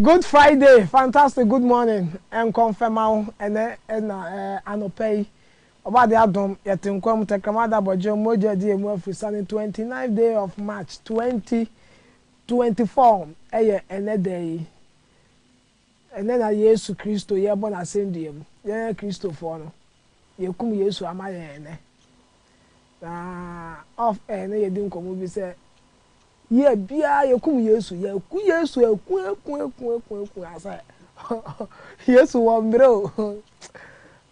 Good Friday, fantastic good morning, nkɔmfɛma wo ɛnɛ ɛna ɛɛ anɔpɛ yi, ɔba de adom yɛte nkwa mu tɛkrɛma da bɔgye mogya di emu afiri sani 29 day of March 20 Twenty four yɛ ɛnnɛ da yi. Ɛnnɛ na Yesu Kristo yɛrebɔ n'asɛndua mu. Yɛn Kristofoɔ no, yɛakum Yesu ama yɛn ɛnnɛ. Na off air no yɛdi nkɔmmɔ bi sɛ, year biara yɛkum Yesu, yɛaku Yesu, aku, aku, aku, aku, aku, asɛ Yesu wɔ mmerɛ o.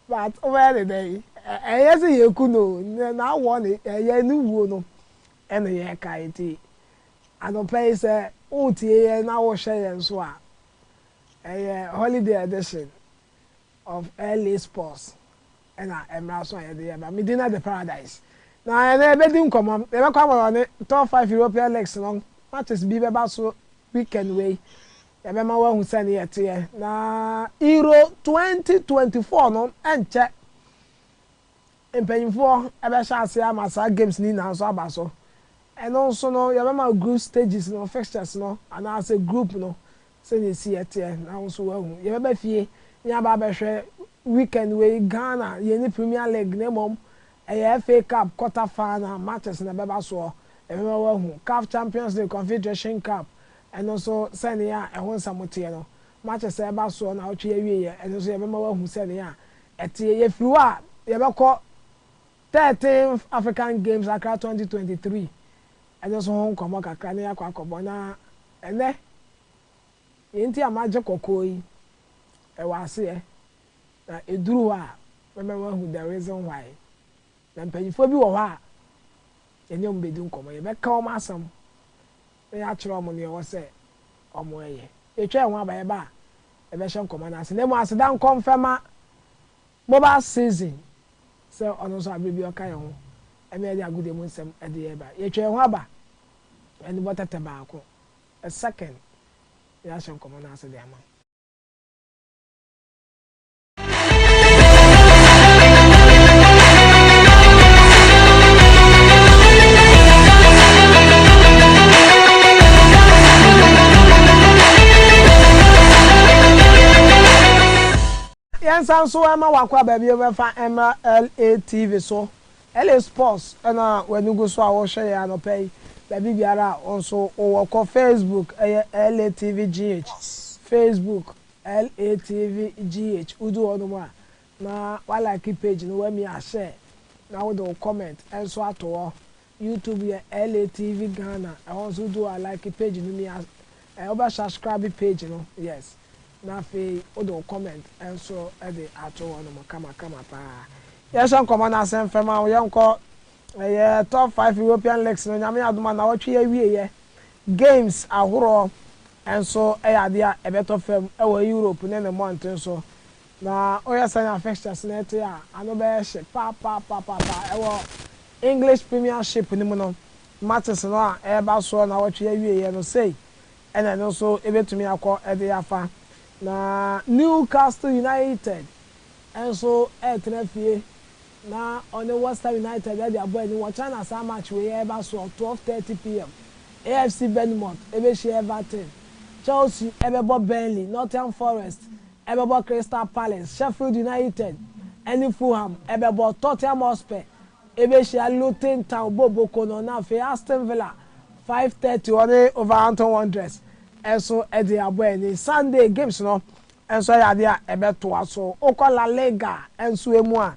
But wobɛyɛ ne dɛn? Ɛnyɛ sɛ yɛaku no o, n'awoɔ no, ɛyɛ ne wuo no. Ɛnna yɛkae ti anɔpa yi sɛ woretie yɛn na worehwɛ yɛn nso a. Ɛyɛ holiday edition of LA's Pulse na mmra so a yɛde reba. Me din ne Ade Paradise. Na ɛnnɛ yɛbɛdi nkɔmmɔ. Yɛbɛkɔ ama wɔne Top Five European Leagues no matches bi bɛba so weekend wei. Yɛbɛma woahu sɛnea ɛteɛ. Na Euro 2024 no nkyɛ. Mpanyimfoɔ bɛhyɛ aseɛ ama saa games no nyinaa nso aba so. Ɛno nso no, yɛbɛma wo group stages no, fixtures no, anaasɛ group no sɛnea ɛsiiɛ teɛ na wo nso woahu. Yɛbɛba fie na yɛaba abɛhwɛ weekend wei Ghana, yɛnni Premier League na mmom ɛyɛ FA Cup quarter final matches na ɛbɛba soɔ. Yɛbɛma woahu CAF Champions League, Confederation Cup, ɛno nso sɛnea ɛho nsɛm teɛ no. Matches a ɛba soɔ nnawɔtwe yi awieeɛ, ɛno nso yɛbɛma woahu sɛnea Ɛte, yɛfiri hɔ a yɛbɛkɔ thirteenth African Games Accra twenty twenty three ɛno nso ho nkɔmmɔ kakra na yɛakɔ akɔbɔ na ɛnnɛ deɛ nti a magye kɔkɔɔ yi ɛwɔ aseɛ na ɛduru hɔ a mɛma moahu the reason why na mpanimfoɔ bi wɔ hɔ a yɛne wɔn bɛdi nkɔmmɔ yɛbɛka wɔn asɛm na yɛakyerɛ wɔn nea ɛwɔ sɛ wɔyɛ. Yɛatwa yɛn ho aba, yɛba a, yɛbɛhyɛ nkɔmɔ no ase. Na mmom aseda nkɔ mfɛma Mobile Season sɛ ɔno nso bere biara ɔka yɛn ho na yɛde agodie mu nsɛm de yɛn ba. Yɛatwa yɛn ho aba anibɔ tɛtɛ baako, a second, na yɛahyɛ nkɔmɔ no ase de ama wo. yɛnsa nso ma wakɔ a baabi wobɛfa mmra LA TV so LA sports ɛna w'ani gu so a wohwɛ yɛ anɔpa yi baabi biara a wo nso wowɔ kɔ Facebook ɛyɛ LA TV GH Facebook LATVGH wo du hɔ nom a na wa like page no wa mi a share na wo de wo comment nso ato hɔ YouTube yɛ LATV Ghana ɛhɔ nso wo du hɔ a like page no mi a eh wo bɛ shascrabe page no yes na afei wo de wo comment nso de ato hɔ nom kama kama paa yɛ hyɛ nkɔmɔ no ase mfɛm a wo yɛ nkɔ ɛyɛ top five European leagues no nyame adom a nawɔtwe yɛ wie yɛ Games ahoroɔ nso yɛ adeɛ a ɛbɛtɔ fam wɔ Europe ne ne mmɔnten so. Na woyɛ saa nya fixtures no te a, ano bɛyɛ hye papaapapa. Wɔ English Premiership no mu no, matches no a ɛreba soɔ nnawɔtwe awieeɛ no, sei na ɛno nso bɛtumi akɔ de afa. Na Newcastle United nso retena fie Na ɔne Worcester United de abɔ ani wɔ China saa match wei a ɛba soɔ, twelve thirty pm. AFC Bournemouth bɛhyia Everton, Chelsea bɛbɔ Burnley, Nottingham Forest bɛbɔ Crystal Palace, Sheffield United ne Fulham bɛbɔ, Tottenham Hotspur bɛhyia Luton Town bɔ boko no, na afei Aston Villa five thirty wɔne Wolverhampton Wanderers nso de abɔ ani. Sunday games no, nso yɛ adeɛ a ɛbɛtoa so. Wokɔ La Liga nso mu a,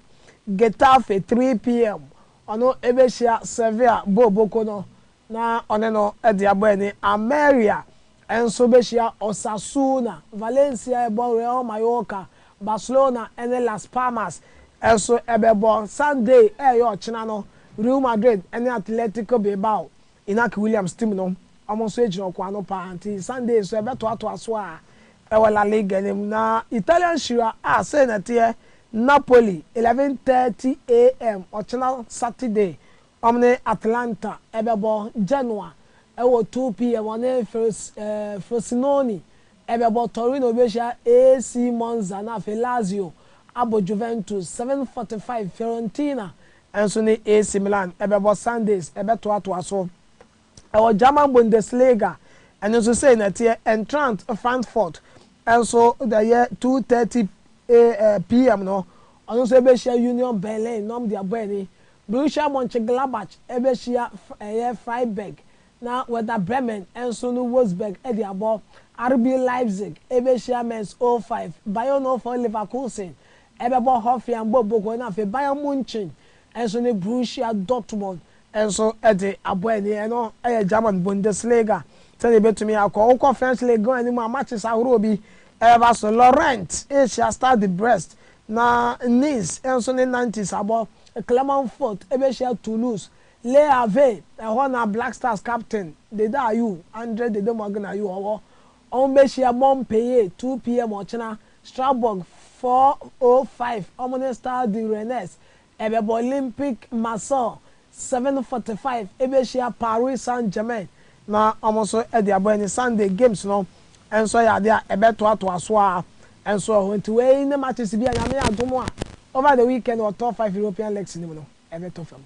Getafe, 3pm, ɔno bɛhyia Sevilla, Bo Boko no, na ɔne no de abɔ ani. Almeria nso bɛhyia Osasuna, Valencia rebɔ Real Mallorca, Barcelona ne Las Palmas nso bɛbɔ. Sunday a ɛyɛ ɔkyena no, Real Madrid ne Atletico Bilbao Inaki Williams team no, wɔn nso agyina ɔkwan no paa nti Sunday nso ɛbɛtoatoa so a ɛwɔ La Liga no mu na Italian hyira a sei na ɛteɛ Napoli, eleven thirty AM ɔkyena Saturday wɔn ne Atalanta ɛbɛbɔ, Genoa ɛwɔ two PM wɔn ne Frosinone ɛbɛbɔ, Torino bɛhyia AC Monza na afei Lazio abɔ Juventus, seven forty five Fiorentina nso ne AC Milan bɛbɔ Sundays bɛtoatoa so wɔ German Bundesliga, ɛno nso sei na ɛteɛ. Eintracht Frankfurt nso da yɛ 2:30 pm no, ɔno nso ɛbɛhyia Union Berlin na wɔn de abɔ ani. Borussia Monchengladbach bɛhyia ɛyɛ Freiburg na Werder Bremen nso ne Wolfsburg de abɔ. RB Leipzig bɛhyia Mainz 05, Bayern 04 Leverkusen Ɛbɛbɔ Hofiang bɔ Boko na afei Bayern Munchen nso ne Brussia Dortmund nso de abɔ ani. Ɛno yɛ German Bundesliga sɛdeɛ ɛbɛtumi akɔ. Wokɔ French Ligue 1 no mu a, matches ahoroɔ bi bɛba so. Lorient rehyia Stade de Brest, na Nice nso ne Nantes abɔ. Clermont Foot bɛhyia Toulouse. Le Havre, ɛhɔ na Black Stars captain Dede Ayew, Andre Dede Morgan Ayew, ɔwɔ. Wɔbɛhyia bɔ mpee 2 pm ɔkyena, Strasbourg 4:05, wɔn ne Stade du Rennes, ɛbɛbɔ Olympique Marseille 7:45, ɛbɛhyia Paris Saint-Germain na wɔn nso de abɔ ani. Sunday games no nso yɛ adeɛ a ɛbɛtoatoa so ara nso wɔ hɔ. Nti wei ne matches bi a Nyame adom a over the weekend wɔ top five European leagues no mu no ɛbɛtɔ fam.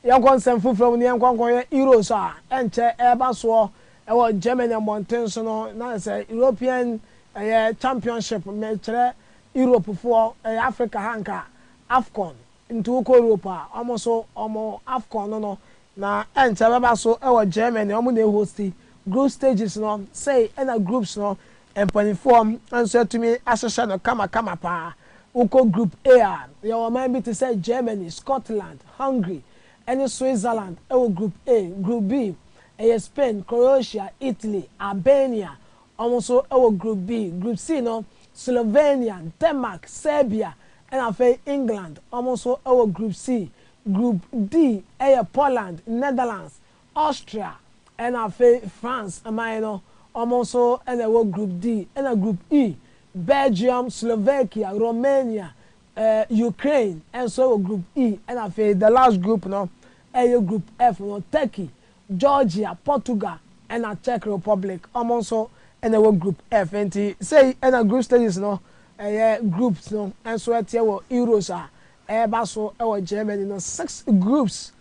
Yɛnkɔ nsɛm foforɔ mu na yɛnkɔ nkɔhwɛ Euro nso a ɛnkyɛ ɛreba soɔ wɔ Germany mmɔnten so no. Na sɛ European ɛyɛ championship, mekyerɛ Europe foɔ, ɛyɛ Africa ha nka Afcon. Nti wokɔ Europe a, wɔn nso wɔn Afcon no no na ɛnkyɛ ɛbɛba so wɔ Germany. Wɔn na ɛhosti. Group stages no, sei na groups no Mpaninfoɔ nso atumi ahyehyɛ no kamakama paa. Wokɔ Group A a, yɛwɔ ɔman bi te sɛ Germany, Scotland, Hungary ɛne Switzerland wɔ Group A. Group B, ɛyɛ Spain, Croatia, Italy, Albania wɔn nso wɔ Group B. Group C no, Slovenia, Denmark, Serbia ɛna afei England wɔn nso wɔ Group C. Group D yɛ Poland, Netherlands, Austria na afei France man no, wɔn nso na ɛwɔ Group D. Ɛna Group E, Belgium, Slovakia, Romania, eh, Ukraine nso wɔ Group E. Ɛna afei the last group no ɛyɛ Group F no, Turkey, Georgia, Portugal ɛna Czech Republic, wɔn nso na ɛwɔ Group F. Enti sei na Group Stages no ɛyɛ groups no nso ɛteɛ wɔ Euros a ɛreba so wɔ Germany no. Six groups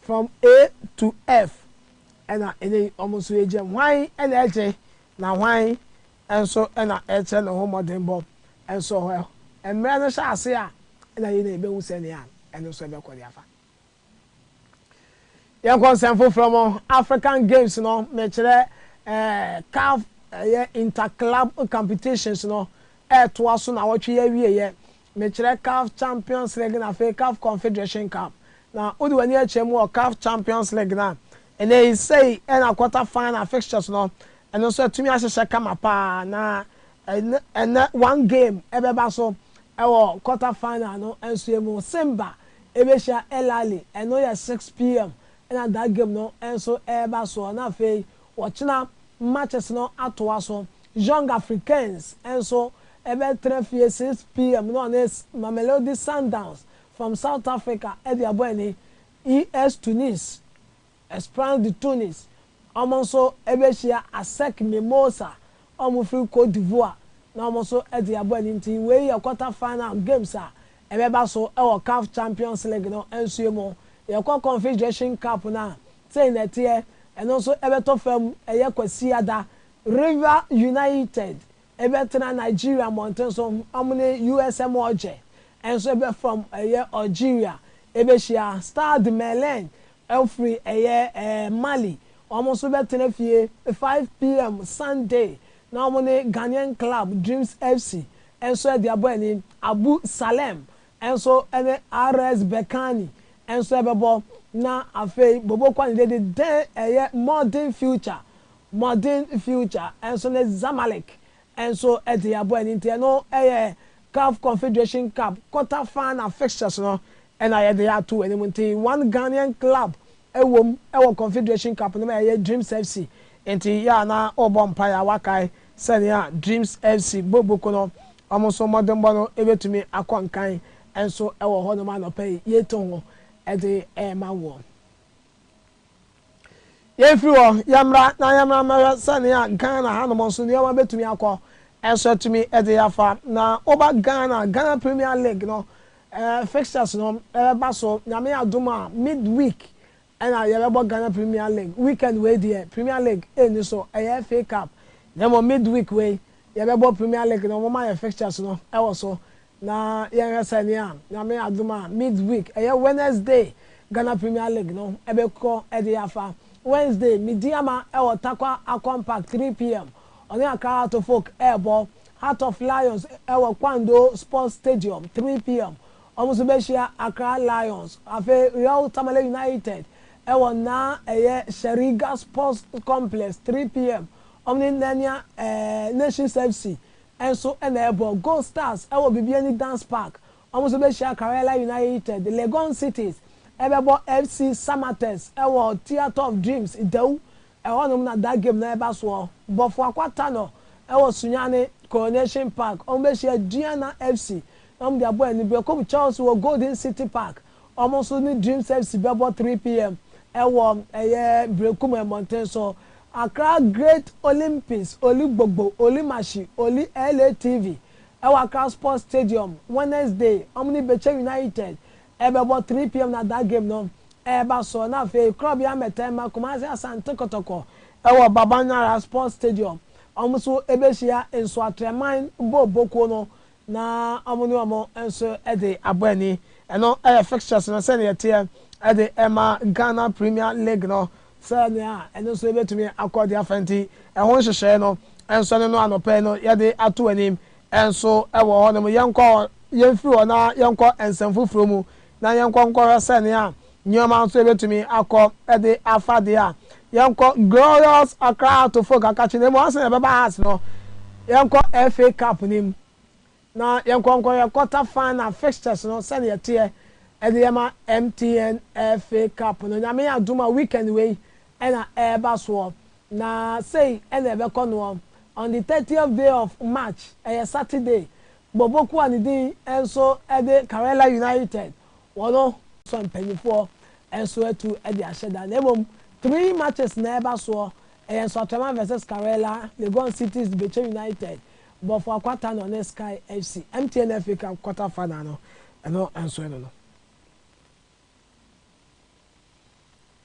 From A to F na ɛnnɛ yi wɔn nso yɛgyina mu. Hwan na ɛregye na hwan nso na ɛrekyerɛ ne ho mmɔdenbɔ? Nso hɔ mmerɛ no hyɛ ase a na yei na yɛbɛhu sɛnea ɛno nso ɛbɛkɔ de afa. Yɛnkɔ nsɛm foforɔ mu, African Games no, mekyerɛ eh, CAF ɛyɛ Inter-Club Competitions no ɛretoa so na wɔtwe yi awieɛ. mekyerɛ Caf Champions League na afei Caf Confederation Cup. Na wode w'ani akyerɛ mu wɔ Caf Champions League no a, ɛnnɛ yi sei na quarter final fixtures no, ɛno nso atumi ahyehyɛ kama paa. Na ɛnnɛ one game ɛbɛba so wɔ quarter final no nso mu. Simba ɛbɛhyia El Ahly, ɛno yɛ 6pm na that game no nso ɛreba soɔ. Na afei wɔkyena matches no atoa so Jong Africains nso bɛtena fie 6pm na wɔne Mamelodi Sundowns from South Africa de abɔ ani. US Tunis, Esperance de Tunis, wɔn nso bɛhyia Asec Mimosa a wɔfiri Cote d'Ivoire na wɔn nso de abɔ ani nti wei yɛ quarter final games a ɛbɛba so wɔ CAF Champions League no nso mu. Yɛkɔ Confederation Cup no a, sei na ɛteɛ, ɛno nso bɛtɔ fam ɛyɛ Kwasiada River United bɛtena Nigeria mmɔnten so, wɔn ne USM Alger nso bɛfam ɛyɛ Algeria bɛhyia. Stade Melun firi ɛyɛ Mali, wɔn nso bɛtena fie 5 pm Sunday na wɔn ne Ghanaian club Dreams FC nso de abɔ ani. Abu Salem nso ne RS Berkane nso bɛbɔ na afei Bobo Kwane de de ɛyɛ Modern Future Modern Future nso ne Zamalek nso de abɔ ɛno nti ɛno yɛ Caf Confederation Cup quarter final fixtures no na yɛde ato anim nti one Ghanaian club wɔ mu wɔ Confederation Cup no mu a ɛyɛ Dreams FC nti yɛ a na wobɔ mpaeɛ a woakae sɛnea Dreams FC bɔ book no wɔn nso mmɔdenbɔ no bɛtumi akɔ nkan nso wɔ hɔnom anɔpa yi yɛreto ho de rema woɔ. Yɛnfiri hɔ, yɛmmra na yɛmmra mmɛhwɛ sɛnea Ghana hanom nso nneɛma bɛtumi akɔ nso atumi de yɛn afa. Na woba Ghana a, Ghana Premier League no fixtures no bɛba so. Nyame adom a, mid week na yɛbɛbɔ Ghana Premier League. Weekend wei deɛ, Premier League nni so, ɛyɛ FA Cup. Na mmom mid week wei, yɛbɛbɔ Premier League no, wɔma yɛn fixtures no wɔ so. Na yɛnhwɛ sɛnea Nyame adom a mid week, ɛyɛ Wednesday, Ghana Premier League no bɛkɔ de afa. Wednesday, Medeama wɔ Tarkwa Akom Park 3 pm, ɔne Accra Heart of Oak rebɔ. Heart of Lions wɔ Kwando Sports Stadium 3 pm, wɔn nso bɛhyia Accra Lions. Afei Real Tamale United wɔ naa ɛyɛ Shariga Sports Complex 3 pm, wɔne Nania Nations FC nso na ɛbɔ, Gold Stars wɔ Bibiani Dance Park, wɔn nso bɛhyia Karela United, Legon Cities bɛbɔ FC Samatex wɔ Theatre of Dreams, Dawur, ɛhɔnom na da game no reba soɔ, Bɔfo Akwa Tanor wɔ Sunyani, Coronation Park, wɔn bɛhyia Duana FC na wɔn de abɔ anibere, Kobe Chelsea wɔ Golden City Park, Wɔn nso ne Dream Service bɛbɔ three PM wɔ ɛyɛ Berekum mmɔnten so. Accra Great Olympics, Oli Gbogbo, Oli Mashi, Oli LA TV wɔ Accra Sports Stadium Wednesday. Wɔn ne Beche United bɛbɔ three PM na that game no reba so. Na afei Korabea Mmɛtɛmma, Kumasi Asante Kotoko wɔ Babanyara Sports Stadium. Wɔn nso bɛhyia Nsoatreman Booboo kuo no na wɔn ne wɔn nso de abɔ ani. Ɛno yɛ fixtures no sɛnea ɛteɛ de rema Ghana Premier League no sɛnea ɛno nso ebetumi akɔ de afa nti, ɛho nhyehyɛe no nso ɛno no anɔpa yi no yɛde ato anim nso wɔ hɔnom. Yɛnkɔ hɔ, yɛmfiri hɔ na yɛnkɔ nsɛm foforɔ mu na yɛnkɔ nkɔhwɛ sɛnea Nneɛma nso a ebetumi akɔ de afa de a, yɛnkɔ Glorious Accra Atofo Kakakye no mu. Ansa na yɛbɛba Hearts no, yɛnkɔ FA Cup no mu, na yɛnkɔ nkɔ yɛn quarter final fixtures no sɛnea ɛteɛ de yɛ ma MTN FA Cup no. Nyame adom a, weekend wei na ɛreba soɔ, na sei na ɛbɛkɔ noɔ, On the thirtieth day of March, ɛyɛ Saturday, Boboku a ne din nso de Karela United, Wɔno sɔ mpaninfoɔ nso atu de ahyɛ da na mmom three matches na ɛba soɔ, ɛyɛ Nsoatreman vs Scarella, Legon Cities de Bekyɛ United, Bɔfoɔ Akwata na ɔne Sky FC. MTN FA Cup quarter final no ɛno nso ɛno no.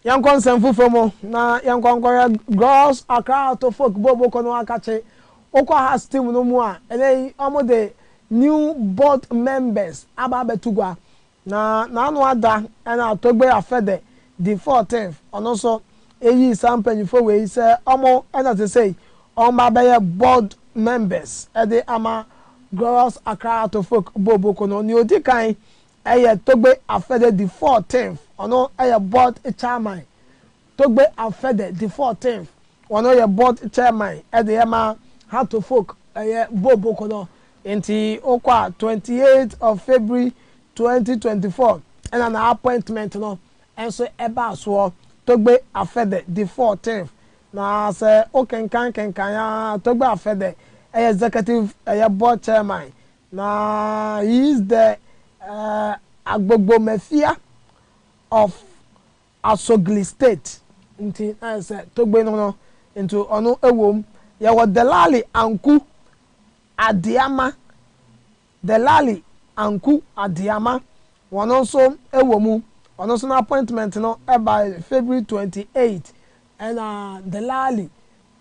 Yɛnkɔ nsɛm foforɔ mu na yɛnkɔ nkɔhwɛ Girls Accra Out of Folk Bowl Boko no akakye. Wokɔ Hearts team no mu a, ɛnɛ yi wɔde new board members aba abɛto gua. Na n'ano ada na Togbe Afede, the fourteenth, ɔno nso yii saa mpanyinfoɔ wei sɛ wɔn na te sei wɔba abɛyɛ board members de ama Girls Accra Out of Folk Bowl Boko no. Nea ɔdi kan Ɛyɛ Togbe Afede di fourteenth, ɔno yɛ board chairman. Togbe Afede di fourteenth, ɔno yɛ board chairman de yɛ ma Hato Folk ɛyɛ Boboko no. Nti wokɔ a twenty eight of February twenty twenty four ɛna na appointment no nso ɛbaa soɔ. Togbe Afede di fourteenth. Na sɛ wokenkan kenkan a Togbe Afede ɛyɛ executive ɛyɛ board chairman Na he is the Agbogbomefia of Asogli state nti na ayɛ sɛ Togbe no no nti ɔno wom. Yɛwɔ Delali Anku Adeama, Delali Anku Adeama, wɔno nso wɔ mu. Ɔno nso n'appointment no bae February twenty eight. Ɛna Delali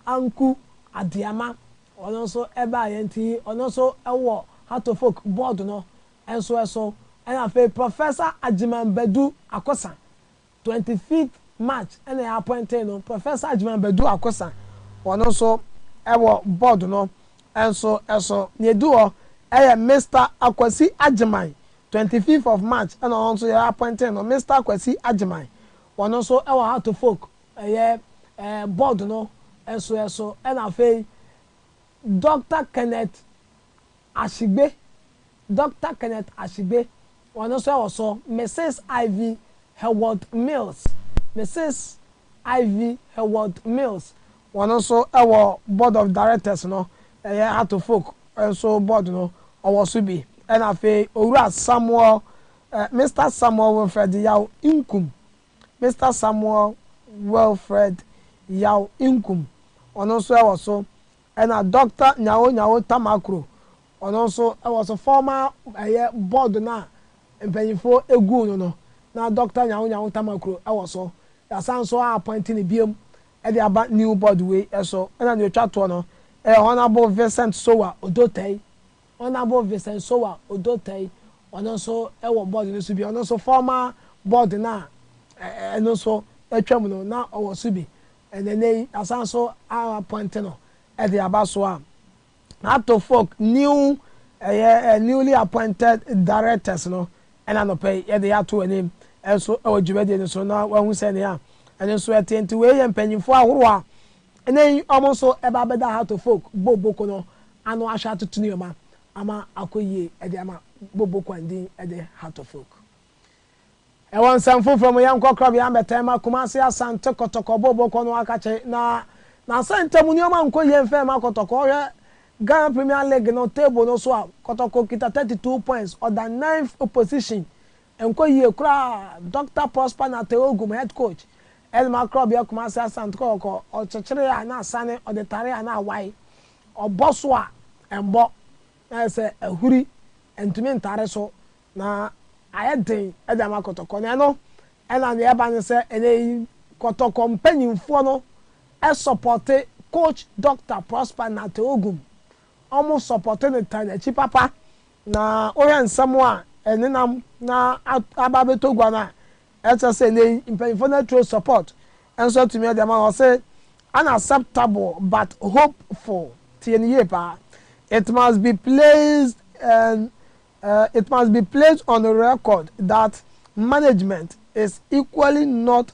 Anku Adeama Ɔno nso baa yɛn ti yi, ɔno nso wɔ Hartofolk board no nso so. Ɛna afei Professor Agyeman Badu Akosa, twenty fifth March na yɛ appointee no, Professor Agyeman Badu Akosa, ɔno nso wɔ board no nso so. Nea edi hɔ yɛ Mister Akwasi Agyeman, twenty fifth of March na ɔno nso yɛ appointee no, Mister Akwasi Agyeman, ɔno nso wɔ Hartofolk. Ɛyɛ eh, board no nso ɛso. Ɛna afei Doctor Kenneth Ashigbe, Doctor Kenneth Ashigbe, ɔno nso ɛwɔ so. Mrs. Ivy Heward Mills, Mrs. Ivy Heward Mills, ɔno nso ɛwɔ board of directors no, ɛyɛ Heart of Oak nso board no ɔwɔ so bi. Ɛna afei Owura Samuel eh, Mister Samuel Wilfred Yaw Nkum, Mister Samuel Wilfred Yaw Inkum, ɔno nso ɛwɔ so, ɛna Doctor Nyawo Nyawo Tamakro, ɔno nso ɛwɔ so, former ɛyɛ board no a mpanyinfoɔ eguu no no, na Doctor Nyawo Nyawo Tamakro ɛwɔ so, y'asan nso a appoint no biom ɛde aba new board wei ɛso, ɛna nea otwa toɔ no ɛyɛ Honourable Vincent Sowa Odotei, Honourable Vincent Sowa Odotai, ɔno nso wɔ board no so bi, ɔno nso former board no a ɛno nso atwam no na ɔwɔ so bi, na ɛnnɛ yi yɛasan nso a appoint no de aba so a Ato Folk new ɛyɛ newly appointed directors no na anɔpa yi yɛde ato wɔn anim nso wɔ dwumadie no so na wɔahu sɛnea ɛno nso ɛteɛ. Nti wei yɛ mpanyimfoɔ ahorow a Ɛnnɛ yi ɔmo nso ɛba abɛda ha to folk Bo Boko no ano ahwɛ atoto nneɛma ama akɔ yie ɛde ama Bo Boko a ndin ɛde ha to folk. Ɛwɔ nsɛm foforɔ mu yɛnkɔ Krɔbea mbɛtɛn ma Kumasi Asante Kɔtɔkɔ Bo Boko no akakye na n'asɛn ntamu nneɛma nkɔ yie mfɛn ma Kɔtɔkɔ ɔhwɛ Ghana Premier League no table no so a Kɔtɔkɔ kita thirty two points ɔda ninth position Ɛnkɔ yie koraa! Dɔkta Prosper Nartey Ogum, Head Coach, Elma Krɔbea Kumasi Asante Kɔkɔkɔ, Ɔkyekyere a na asane, ɔdetare a na awae, ɔbɔ so a ɛmbɔ, na ayɛ sɛ ahuri, ɛntumi ntare so, na ayɛ den de ama Kɔtɔkɔ. Na ɛno na nea ɛba ne sɛ ɛnɛ yi Kɔtɔkɔ mpanyimfoɔ no sɔpɔte Coach Dɔkta Prosper Nartey Ogum. Wɔsɔpɔte no taa n'akyi papa Na wohwɛ nsɛm a ɛnenam na aba abɛtɔ gua no a, ɛkyerɛ sɛ nnɛ yi mpanyimfoɔ no aturo support nso atumi de ama no. Ɔse, Unacceptable but hopeful, tie no yie paa, it must be placed and it must be placed on record that management is equally not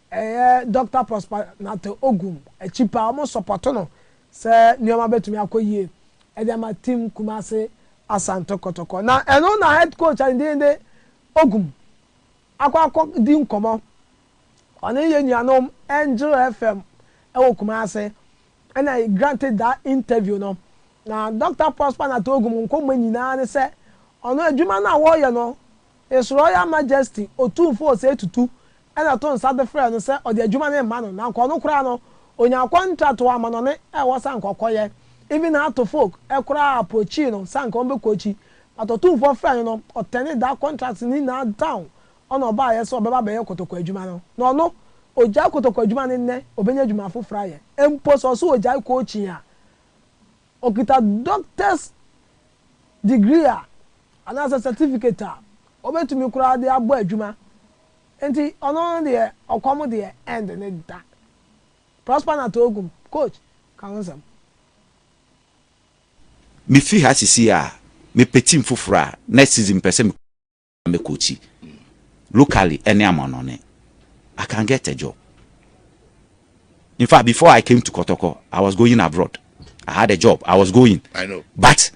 Ɛyɛ Dɔkta Prosper Nartey Ogum akyi paa, wɔn sɔpɔto no sɛ nneɛma bɛtumi akɔ yie de ama Team Kumasi Asante Kɔtɔkɔ. Na ɛno na Head Coach a ne din de Ogum akɔ akɔdi nkɔmmɔ, ɔne yɛn nuanom Angel FM wɔ Kumasi na he granted that interview no. Na Dɔkta Prosper Nartey Ogum nkɔmmɔ nyinaa ne sɛ, ɔno adwuma no a wɔreyɛ no, His Royal Majesty Otumfo Osei Tutu na ɛto nsa de frɛɛ no sɛ ɔde adwuma no rema no, na anka ɔno koraa no, ɔnyaa kɔntrat wɔ amanɔne a ɛwɔ sɛ anka ɔkɔyɛ. Even her to folk koraa approachee no sɛ anka wɔbɛkɔ akyi, but Otumfoɔ frɛɛ no no, ɔturned that contract no nyinaa down na ɔbaeɛ sɛ ɔbɛba abɛyɛ kotoko adwuma no. Na ɔno, ɔgyae kotoko adwuma no nnɛ, ɔbɛnya adwuma foforɔ ayɛ. Mpo sɛ ɔse ɔgyae coaching a, Ɔkita Doctor's degree a, anaasɛ certificate a, ɔbɛtumi koraa de abɔ adwuma. Enti ɔno no deɛ, ɔkɔm deɛ ɛnde no da. Prosper Natookum, Coach, ka ho nsɛm. Mefiri ha seesei a, mepɛ team foforɔ a, next season mepɛ sɛ me. na me coachi locally ɛne amanɔne I can get a job in fact before I came to Kɔtɔkɔ I was going abroad I had a job I was going I know but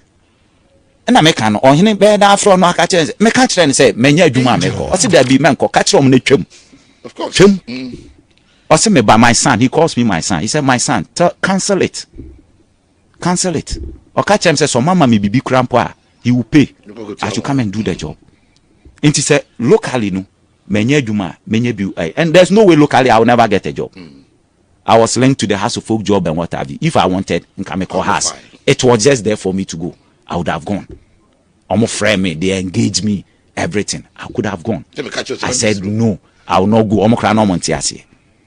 ɛna meka no ɔhene bɛyɛ dɛ afrɛ no aka kyerɛ sɛ meka kyerɛ no sɛ manya adwuma a mekɔ ɔse daabi mɛnkɔ ka kyerɛ ɔm no twam twam mm. ɔse meba my son he calls me my son he said my son tell, cancel it Cancel it. Ɔka kyerɛɛ me sɛ sɛ ɔmama me biribi koraa mpo a, he will pay. I should come and do the job. Nti sɛ locally no manya adwuma a, menya bi ɛ. And there's no way locally I will never get a job. I was linked to the House of Folk job and what have you. If I wanted, nka mekɔ House. It was just there for me to go. I would have gone. Wɔn frɛ me, they engage me, everything. I could have gone. I said no, I will not go. Wɔn koraa na wɔn nte aseɛ.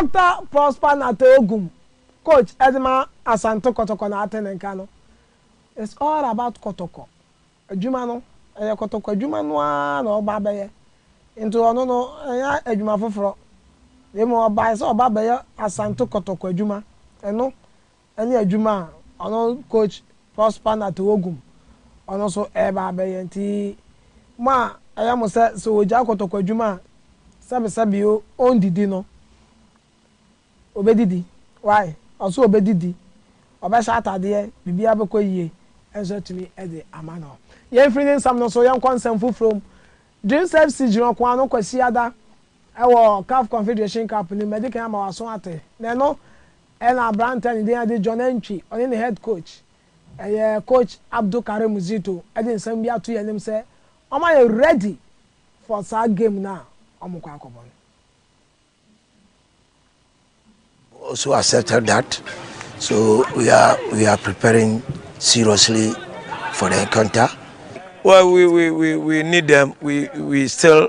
Doctor Prosper Nartey Ogum, coach ɛde ma Asante Kɔtɔkɔ na ate ne nka no, It's all about kɔtɔkɔ adwuma no, ɛyɛ kɔtɔkɔ adwuma no ara na ɔba abɛyɛ, nti ɔno no ɛnyɛ adwuma foforɔ na mmom ɔbaeɛ sɛ ɔba abɛyɛ Asante kɔtɔkɔ adwuma, ɛno ɛne adwuma a ɔno coach Prosper Natewogum ɔno nso reba abɛyɛ nti mo a ɛyɛ mo sɛ sɛ ɔgyae kɔtɔkɔ adwuma a sɛbesɛbe o ɔndidi no ɔbɛdidi why ɔse ɔbɛdidi ɔbɛhyɛ atadeɛ biribiara bɛkɔ yie nso atumi de ama no yɛmfiri ne nsɛm no so yɛnkɔ nsɛm foforɔ mu Dreams FC gyina ɔko ano Kwasiada ɛwɔ caf confederation cup no mu ɛde kan ama waso ate na ɛno Ɛna aberanteɛ a ne din agye John Antwi, ɔne ne head coach, ɛyɛ coach Abdul Karim Zito de nsɛm bi ato yɛn anim sɛ wɔma yɛ ready for saa game no a wɔkɔ akɔbɔ no. also accepted that so we are we are preparing seriously for the encounter. Well, we we we we need them. We we still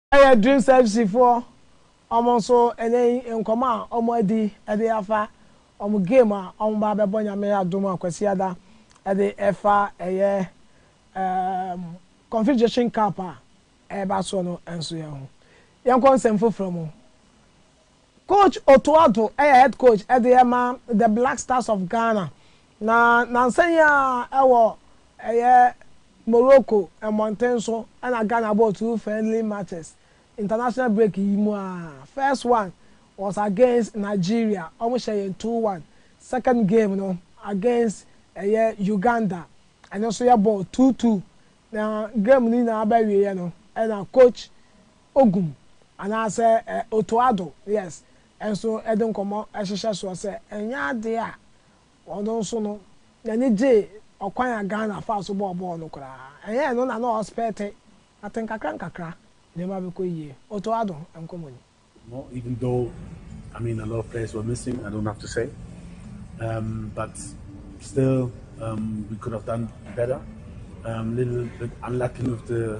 Ɛyɛ Dreams FC foɔ wɔn nso ɛnɛ yi nkɔmɔ a wɔn adi ɛde afa wɔn game a wɔn ba abɛbɔ Nyame adom a Kwasiada ɛde ɛfa ɛyɛ ɛɛm Confederation Cup a ɛɛba soɔ no nso yɛn ho. Yɛnkɔ nsɛm foforɔ mu. Coach Otto Addo yɛ head coach de ma The Black Stars of Ghana, na nansa yi ara wɔ ɛyɛ Morocco mmɔnten so na Ghana bɔɔ two friendly matches international break yi mu ara. First one was against Nigeria, wɔhyɛɛ yɛn two one. Second game no against ɛyɛ Uganda, ɛno nso yɛbɔɔ two two, na game no nyinaa bɛwieeɛ no na coach Ogum anaasɛ Otoado, yes, nso de nkɔmmɔ hyehyɛ soɔ sɛ ɛnyɛ adeɛ a ɔno nso no n'ani gye ɔkwan a Ghana faa so bɔɔ bɔɔl no koraa. Ɛnyɛ ɛno na na ɔrespɛɛte, but nkakrankakra nneɛma bɛkɔ yie. Otoado nkɔmmɔ ni. No even though I mean a lot of players were missing I don't have to say um but still um we could have done better um little bit unlucky with the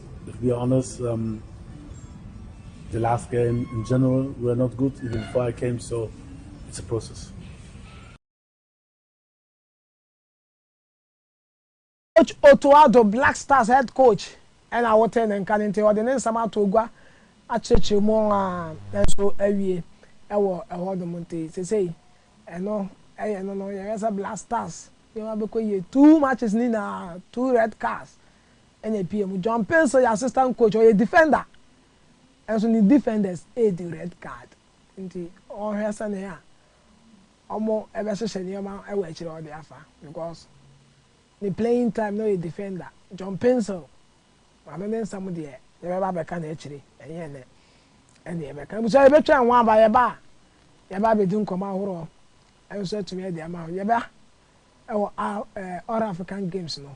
To be honest um the last game in general we were not good even before I came so it's a process. Coach Otto Addo, Black Stars head coach na wotee ne nka no nti ɔde ne nsɛm ato gua akyerɛkyerɛ mu a nanso awie wɔ ɛhɔ nom nti sesei ɛno ɛyɛ no no yɛhwɛ sɛ Black Stars nneɛma bɛkɔ yie two matches ne nyinaa two red cards na epue mu. John Pace yɛ assistant coach, ɔyɛ defender nso ne defenders redi red card nti ɔrehwɛ sɛnea wɔbɛhyehyɛ nneɛma wɔ akyiri a ɔde afa because ne playing time na ɔyɛ defender. John Pace maame ne nsɛm deɛ yɛbɛba abɛka no akyiri ɛnyɛ ɛnnɛ ɛna yɛbɛka. Abusua yɛbɛtwɛn ho aba yɛba a yɛba abɛdi nkɔmmɔ ahoroɔ nso atumi adi ama ho. Yɛba wɔ All African Games no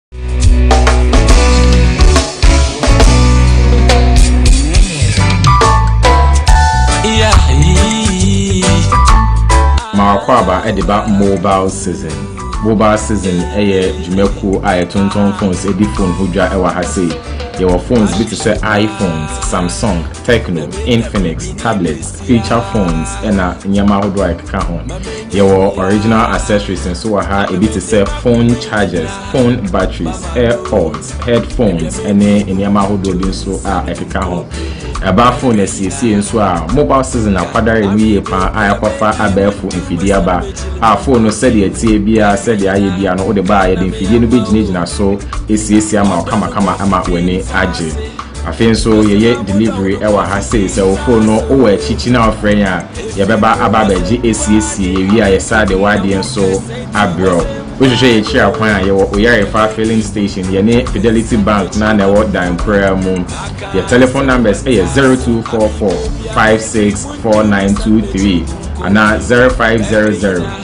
Mawakwaba de ba mobile season. Mobile season yɛ dwumakuo a yɛtontɔn phones di phone ho dwa wɔ ha sei. Yɛwɔ phones bi te sɛ iPhones, Samsung, Tecno, Infinix, tablets, feature phones, ɛna nneɛma ahodoɔ a ɛkeka ho. Yɛwɔ original accessories nso wɔ ha, ebi te sɛ phone chargers, phone batteries, airpods, headphones, ɛne nneɛma ahodoɔ bi nso a ɛkeka ho. Ɛbaa phone asiesie nso a mobile season akwadare mu yie paa a ɛkɔfa abɛɛfo mfidie aba a phone no sɛdeɛ ɛteɛ biara sɛdeɛ ayɛ biara no wode baa yɛde mfidie no bɛgyinagyina so asiesie ama ɔkamakama ama w'ani agye. Afei nso yɛyɛ delivery ɛwɔ ha sei sɛ wo phone no wowɔ akyikyi na wofrɛ yɛn a yɛbɛba aba abɛgye asiesie yɛwie a yɛsaa de w'adeɛ nso abrɛ wo wohwehwɛ yɛn akyiri akwan a yɛwɔ Oyarifa filling station yɛne Fidelity Bank no a na ɛwɔ dan koraa mu yɛ telephone numbers ɛyɛ 0244 564923 anaa 0500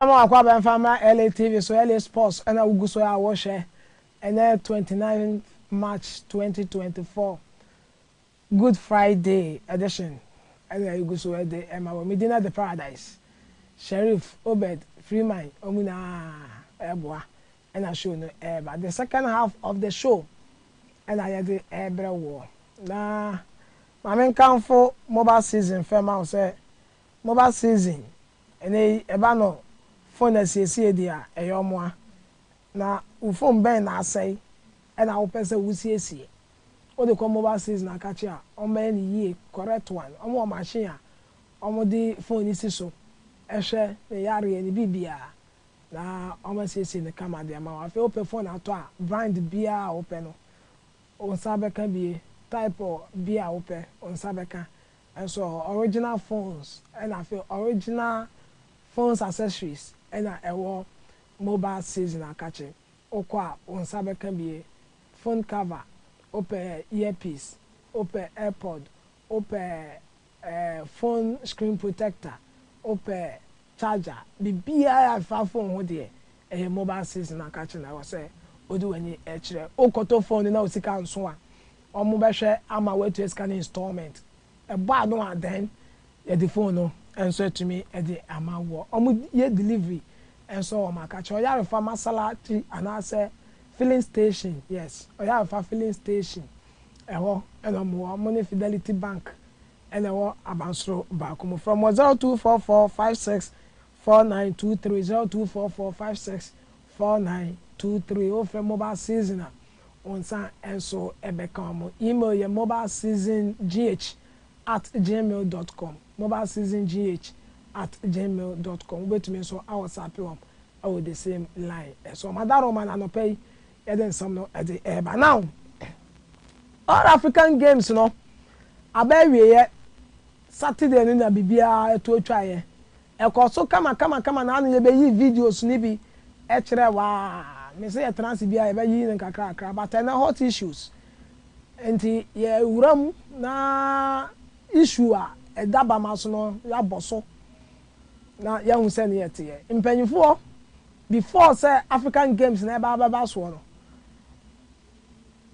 Ɛna ma wakɔ abɛmfa mmra LA TV so, LA Sports ɛna wogu so a wohwɛ, ɛnɛ twenty nine March twenty twenty four Good Friday edition ɛna yɛgu so ɛde ɛma wɔ, Medina De Paradise, Sherif, Obed, Freeman wɔn nyinaa ɛɛboa ɛna show no ɛɛba, the second half of the show ɛna yɛde ɛɛbrɛ woɔ, na ma menkamfo Moba Season fɛ ma wo sɛ Moba Season Ɛnnɛ yi, ɛba no fon asiesie deɛ a, ɛyɛ wɔn a. Na wo fon bɛn na asɛe na wopɛ sɛ wosiesie? Wode kɔ mobile season akakye a, wɔbɛyɛ no yie, correct one. Wɔn wɔ machine a wɔde fon no si so hwɛ ne yareɛ, ne biribiara, na wɔasiesie no kama de ama wo. Afei wopɛ fon atɔ a, brand biara a wopɛ no, wo nsa bɛka bi, type bi a wopɛ, wo nsa bɛka. Nso ɔwɔ original phones ɛna afei original phones accessories ɛna ɛwɔ mobile season akakye wokɔ a wo nsa bɛka bie phone cover wopɛ earpiece wopɛ airpod wopɛ eh phone screen protector wopɛ charger bibiaa ɛfa phone ho deɛ Ɛyɛ mobile sees na ka kyerɛ naiwa sɛ odi w'ani kyerɛ. Wokɔtɔ phone no na wo sika nso a, wɔn bɛhwɛ ama woatua sika no installment. Ɛbɔ ano a then yɛde phone no nso atumi de ama woɔ. Wɔn yɛ delivery nso wɔ wɔn aka kyerɛ. Ɔyarefa masalakyi anaasɛ filling station, yes, ɔyarefa filling station ɛhɔ na wɔn wɔ. Wɔn ne Fidelity Bank na ɛwɔ abansoro baako mu. Frɛ wɔn wɔ zero two four four five six Four nine two three zero two four four five six four nine two three Wofrɛ mobile season a, wo nsa nso bɛka wɔn. Email yɛ mobileseasongh at gmail dot com, mobileseasongh at gmail dot com. Wobɛtumi nso a wɔsape wɔn wɔ the same line so. Madaroma no anɔpa yi yɛde nsɛm no de reba. Now, All African Games no aba awieɛ Saturday no na biribiara to twaeɛ. Ɛkɔɔ so kamakamakama na ano yɛbɛyii videos no bi kyerɛɛ wɔ a mese yɛtena ase biara yɛbɛyiyi no nkakrakra but ɛnnɛ hot issues nti yɛwura mu na issue a ɛda bama so no yɛabɔ so na yɛahu sɛdeɛ ɛteɛ. Mpanyinfoɔ before sɛ African games no ɛreba abɛba soɔ no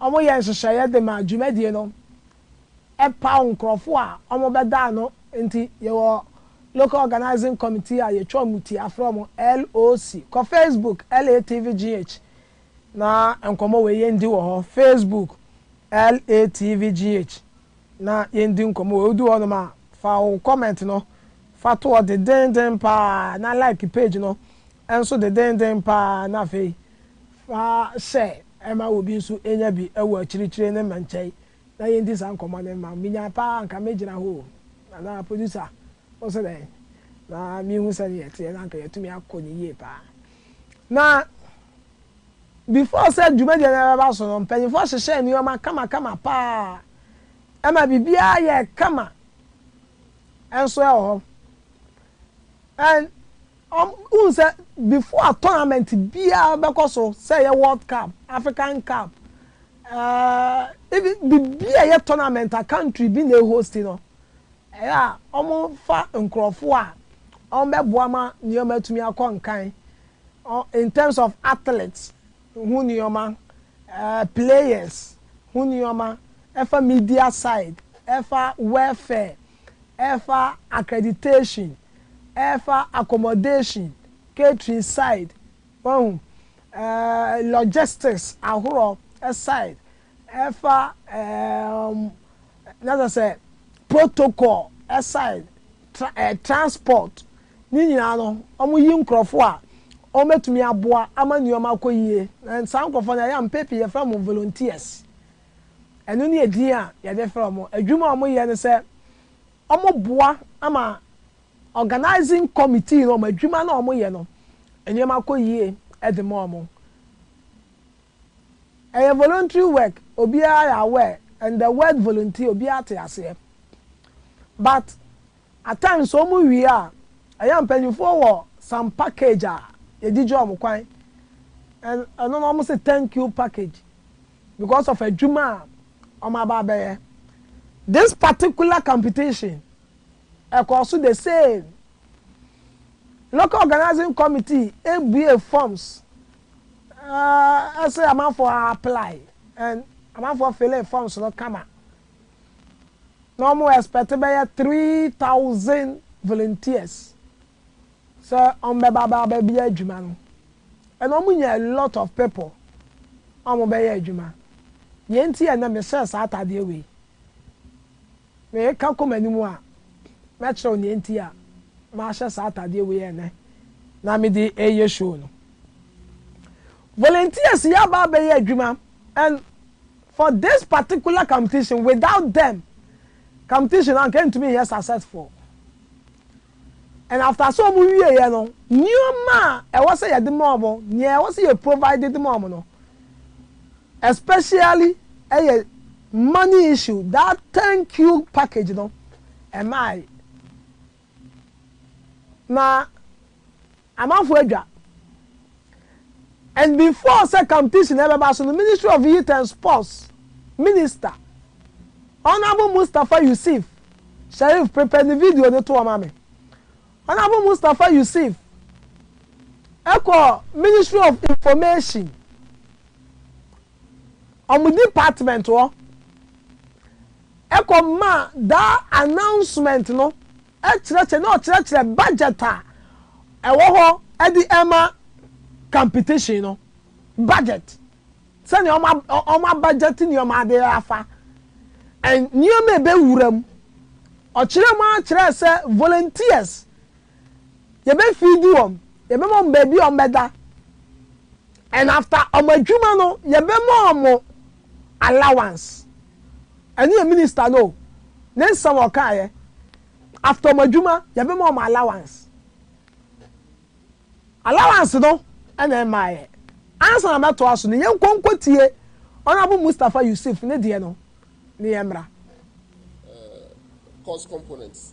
Wɔyɛ nhyehyɛeɛ de ma dwumadie no paw nkurɔfoɔ a wɔbɛda ano nti yɛwɔ Local Organising Committee a yɛtwa wɔn ti afrɛ wɔn, LOC. Kɔ Facebook LATVGH na nkɔmmɔ wei yɛndi wɔ hɔ, Facebook LATVGH na yɛndi nkɔmmɔ wei. Wodu hɔnom a, fa wo comment no fa to hɔ dendeenden pa ara na like page no Nso dedeenden paa na afei fa hyɛ ma obi nso nya bi wɔ akyirikyiri ne me nkyɛn na yɛndi saa nkɔmmɔ no mma menya paa anka mɛgyina hɔ o anaa producer wo se dɛn na mehu sɛdeɛ ɛteɛ na anka yɛatumi akɔ no yie paa na before sɛ dwumadie no bɛba so no mpanimfoɔ hyehyɛɛ nneɛma kamakama paa ɛma biribiara yɛɛ kama nso ɛwɔ hɔ and Wohu sɛ before a tournament biara bɛkɔ so, sɛ ɛyɛ World Cup, African Cup, eh, even biribi a ɛyɛ tournament a country bi na ɛhosti no, ɛyɛ a wɔfa nkurɔfoɔ a wɔbɛboa ma nneɛma atumi akɔ nkan in terms of athletes ho nneɛma, eh, players ho nneɛma, ɛfa media side, ɛfa welfare, ɛfa accreditation, ɛfa accommodation, catering side, wahu, eh, logistics ahorɔ side, ɛfa eh, na sɛ sɛ protocol side, tra, eh, transport, ne nyinaa no, wɔn yi nkorɔfo a wɔn bɛtumi aboa ama nneɛma akɔ yie. Na saa nkorɔfoɔ no ɛyɛ a mpɛn pii yɛfrɛ wɔn volunteers. Ɛno ne edin a yɛde frɛ wɔn. Adwuma a wɔyɛ ne sɛ wɔboa ma organising committee no wɔn adwuma no a wɔyɛ no nneɛma kɔ yie de ma wɔn. Ɛyɛ voluntary work, obiara yɛ aware and the word volunteer obiara te aseɛ but At times sɛ wɔn wie a, ɛyɛ a mpanyinfoɔ wɔ some package a yɛgyigye wɔn kwan, and ɛno no wɔn se thank you package because of adwuma a wɔn aba abɛyɛ. This particular competition ɛkɔɔ so the same, local organising committee ebue forms ɛɛ ɛse amanfoɔ a apply and amanfoɔ fillee forms no kama na wɔn expect bɛyɛ three thousand volunteers sɛ wɔn bɛba bɛ abɛ bɛ yɛ adwuma no and wɔn nya a lot of people a wɔn bɛyɛ adwuma deɛ nti yɛ nɛ me hyɛ saa ataadeɛ wei me ka kɔ m'anim a mɛ kyerɛw deɛ nti a ma hyɛ saa ataadeɛ wei yɛ nɛ na me de ɛyɛ show no volunteers yɛ aba abɛyɛ adwuma and For this particular competition without them competition no anka ɛntumi nyɛ successful and after sɛ wɔn wieɛ no nneɛma a ɛwɔ sɛ yɛde ma wɔn nea ɛwɔ sɛ yɛ provide de ma wɔn no especially ɛyɛ money issue that thank you package no ɛmaae. na amanfoɔ adwa and before sɛ competition ɛbɛba so no ministry of youth and sports minister honourable Mustapha Yusif Sherif prepare ne video no toɔ ma me honourable Mustapha Yusif ɛkɔ ministry of information wɔn department hɔ kɔ maa daa announcement no kyerɛkyerɛ na ɔkyerɛkyerɛ budget a ɛwɔ hɔ de rema competition no, budget, sɛnea wɔn a budget nneɛma ade afa, nneɛma a ɛbɛwura mu. Ɔkyerɛɛ mu ara kyerɛɛ sɛ volunteers yɛbɛfiidi wɔn, yɛbɛma wɔn baabi a wɔbɛda, and after wɔn adwuma no, yɛbɛma wɔn allowance. Ɛno yɛ minister no o, ne nsɛm a ɔkaeɛ. After wɔn adwuma, yɛbɛma wɔn allowance. Allowance no na ɛmmaeɛ. Ansa na mɛtoa so no, yɛnkɔ nkɔtie Honourable Mustapha Yusuf ne deɛ no na yɛmmra. Cost components.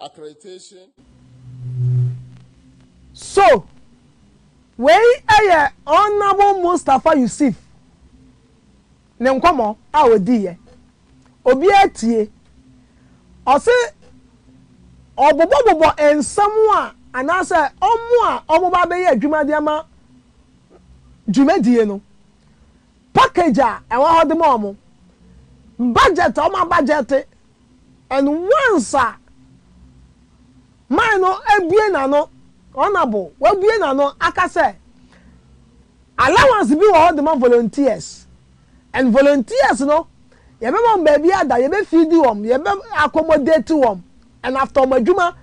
accreditation. So wei yɛ Honourable Mustapha Yusif ne nkɔmmɔ a ɔdiiɛ. Obiara tie. Ɔse ɔbobɔbobɔ nsɛm a anaasɛ wɔn a wɔba abɛyɛ adwuma de ama dwumadie no, package a ɛwɔ hɔ de ma wɔn, budget a wɔabudgete And once a man no abue n'ano, Honourable, wabue n'ano aka sɛ allowance bi wɔ hɔ de ma volunteers and volunteers no yɛbɛma wɔn baabi ada, yɛbɛ feed wɔn, yɛbɛ accommodate wɔn and after wɔn adwuma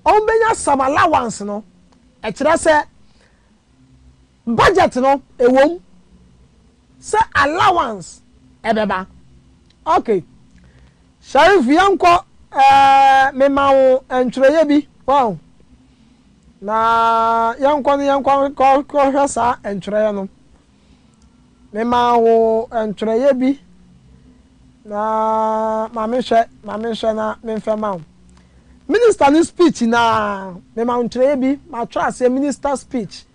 wɔbɛnya some allowance no, ɛkyerɛ sɛ Budget no ɛwom sɛ allowance ɛbɛba ok. Sharif yɛnkɔ ɛɛ mema wo ntwerɛeɛ bi wahu na yɛnkɔ no yɛnkɔ nkɔhwɛ saa ntwerɛeɛ no mema wo ntwerɛeɛ bi na ma menhwɛ ma menhwɛ na menfɛ ma wo minister no speech na mema wo ntwerɛeɛ bi matwerɛ aseɛ minister speech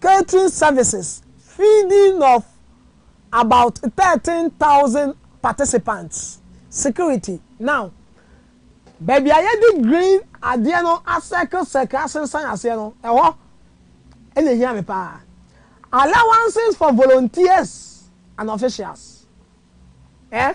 Catering services feeding of about thirteen thousand participants security now baabi a yɛde green adeɛ no asɛkle sɛkle asensan aseɛ no ɛhɔ ɛna ehia me paa allowances for volunteers and officials eh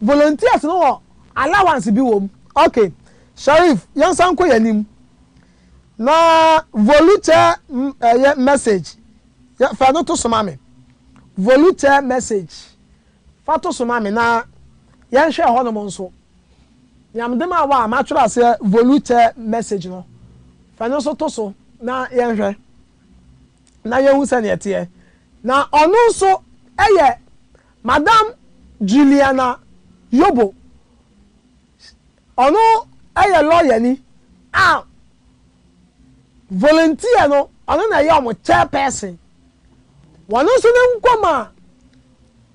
Volunteers no wɔ allowance bi wom. Ok Sharif yɛnsan nkɔ yɛn anim na volukyɛ ɛyɛ message yɛ fa ɛno to so ma me. Volukyɛ message fa to so ma me na yɛnhwɛ ɛhɔnom nso. Nea mede maa wo a matwerɛ aseɛ volukyɛ message no fa ɛno nso to so na yɛnhwɛ na yɛhu sɛdeɛ ɛteɛ. Na ɔno nso yɛ Madam Juliana Yobo, ɔno yɛ lɔyani a volunteer no ɔno na ɛyɛ wɔn chairperson. Wɔn nso ne nkɔm a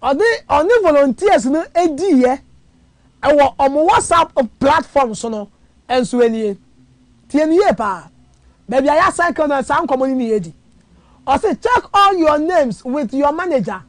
ɔde ɔne volunteers no diiɛ wɔ wɔn WhatsApp platform so no nso nie. Tie no yie paa. Baabi a yɛasɛke no saa nkɔmmɔ no na yɛadi. Ɔse check all your names with your manager.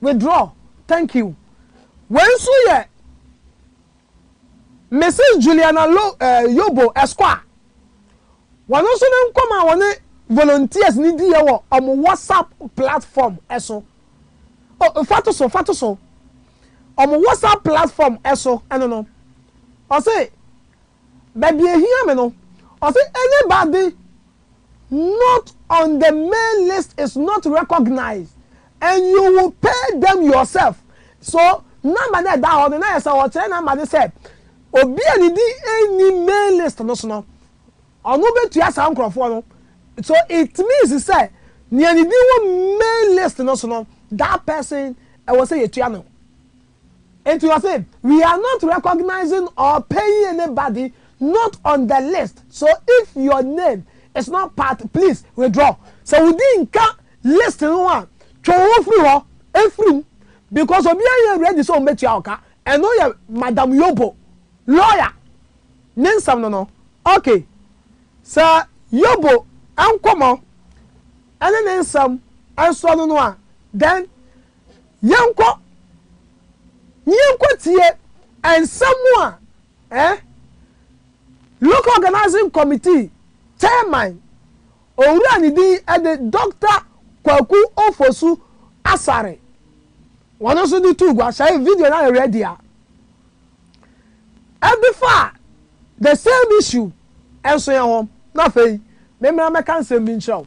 Withdraw, thank you. Wei nso yɛ Mrs. Juliana Lo, eh, Yobo Esquar. Wɔn nso ne nkɔm a wɔne volunteers ne diiɛ wɔ wɔn WhatsApp platform so. O, fa to so, fa to so. Wɔn WhatsApp platform so ɛno no. Ɔse, baabi ehia me no, ɔse anybody Not on the main list is not recognized and you will pay them yourself so number no a ɛda hɔ no na yɛ sɛ ɔkyerɛ number no sɛ obi a ne din nni main list no so no ɔno bɛtua saa nkurɔfoɔ no so it means sɛ nea ne din wɔ main list no so no that person ɛwɔ sɛ yɛtua no Enti ɔse, we are not recognizing or paying anybody not on the list, so if your name is not part please withdraw. Sɛ wo din nka list no ho a, twe wo ho firi hɔ, firi mu, because obiara nyɛ ready sɛ ɔbɛtua wo ka. Ɛno yɛ Madam Yobo, lawyer, ne nsɛm no no. Ok, sɛ Yobo nkɔmmɔ ne ne nsɛm nsoa no no a, then Yɛnkɔ na yɛnkɔtie nsɛm a eh Local Organising Committee Chairman, Owura a ne din de Dɔkta Kwaku Ofosu Asare, wɔn nso de too gua. Sɛ video no ayɛ ready a, ɛde faa the same issue nso yɛn ho. Na afei, memmra mmɛka nsɛm bi nkyerɛ wo.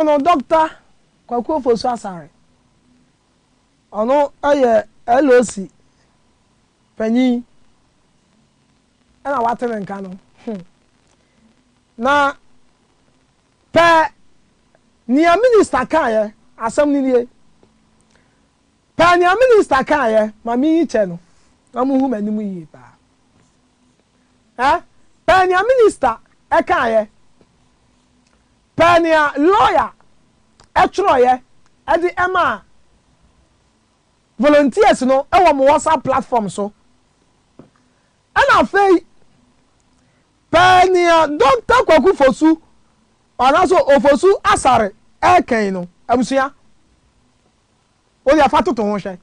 Ɔno Dɔkta Kwaku Ofosu Asare. Ɔno yɛ LOC panyin na wate ne nka no. Na pɛ nea minista kaeɛ, asɛm no nie. Pɛ nea minista kaeɛ ma menyi kyɛ no na mohu m'anim yie paa. Eh, pɛ nea minista kaeɛ Pɛ nea lɔya twerɛeɛ de maa volunteers no wɔ mo WhatsApp platform so. Ɛna afei pɛ nea Doctor Kwaku Fosu anaasɛ Ofosu Asare ɛɛkɛn no abusua. Wo deɛ fa toto ho hwɛ.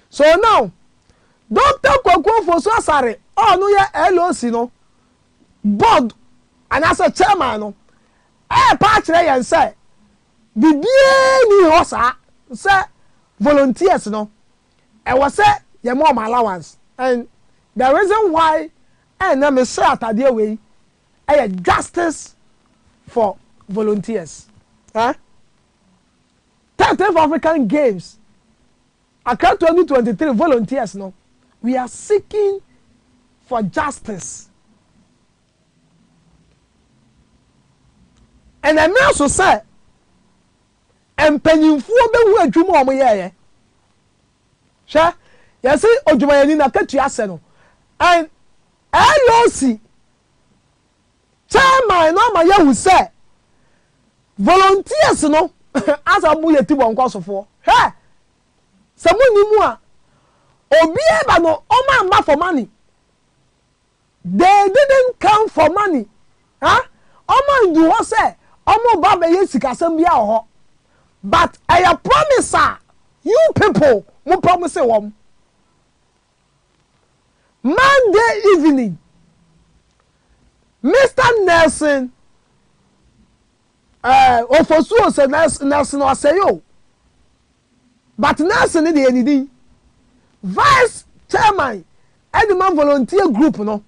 So now, Doctor Kwaku Ofosu-Asare a ɔno yɛ LOC no board anaasɛ chairman no ɛrepa akyerɛ yɛn sɛ biribiara nni hɔ saa sɛ volunteers no ɛwɔ sɛ yɛma wɔn allowance and the reason why ɛna mehyɛ atadeɛ wei ɛyɛ justice for volunteers. Eh? Thirteenth African Games Accra twenty twenty three volunteers no we are seeking for justice and ɛmira so sɛ mpanyinfoɔ bɛhu adwuma a wɔyɛɛyɛ hwɛ yɛsi odwumayɛni na katua sɛ no and LOC Chairman no ama yɛahu sɛ volunteers no asan bu yɛ Tibɔnkɔ sofoɔ. Hwɛ! Sɛ monni mu a, obiara ba no ɔmamma for money. They didn't come for money. Ha? Ɔmandu hɔ sɛ ɔmoba bɛyɛ sikasɛm biara wɔ hɔ. But ɛyɛ promise a you people mopɛ mo se wɔm. Monday evening, Mister Nelson eh, Ofosuo sɛ Nelson Ɔsɛe o, but Nelson no deɛ ne din. Vice chairman ɛde ma volunteer group no,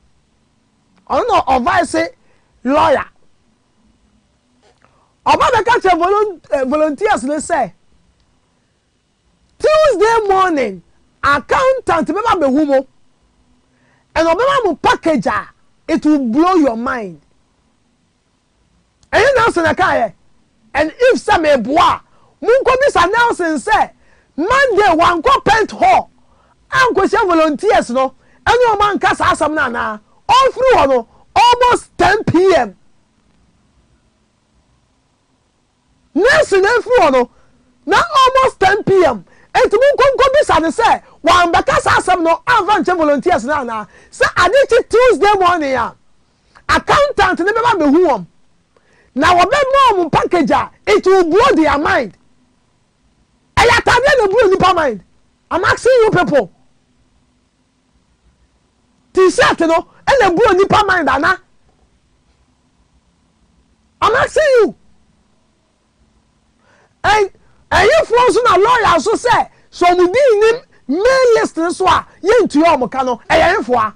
ɔno na ɔvice lawyer. Ɔba bɛka kyerɛ eh, volunteers no sɛ, Tuesday morning accountant bɛba abɛhu mo and ɔbɛma mo package a it will blow your mind. Ɛnyɛ Nelson na ɛkaeɛ and if sɛ meboa a monkɔbisa Nelson sɛ Monday wankɔ Pent Hall ankɔhyia volunteers no ɛne wɔn anka saa asɛm no anaa? Ɔrefiri hɔ no almost 10 pm. Nurse no afiri hɔ no, na almost 10 PM, enti monkɔ nkɔbisa no sɛ wambɛka saa asɛm no amfa ankyɛ volunteers no anaa. Sɛ ade kye Tuesday morning a, accountant no bɛba abɛhu wɔn, na wɔbɛma wɔn package a it will blow their mind. Ɛyɛ atadeɛ na ɛblow nnipa mind. I'm asking you people. T-shirt no na ebu onipa mind ana? I'm asking you. And ɛhefoɔ nso na lawyer nso sɛ sɛ wɔn din nnim mail list no so a yɛntua wɔn ka no ɛyɛ hefoɔ a?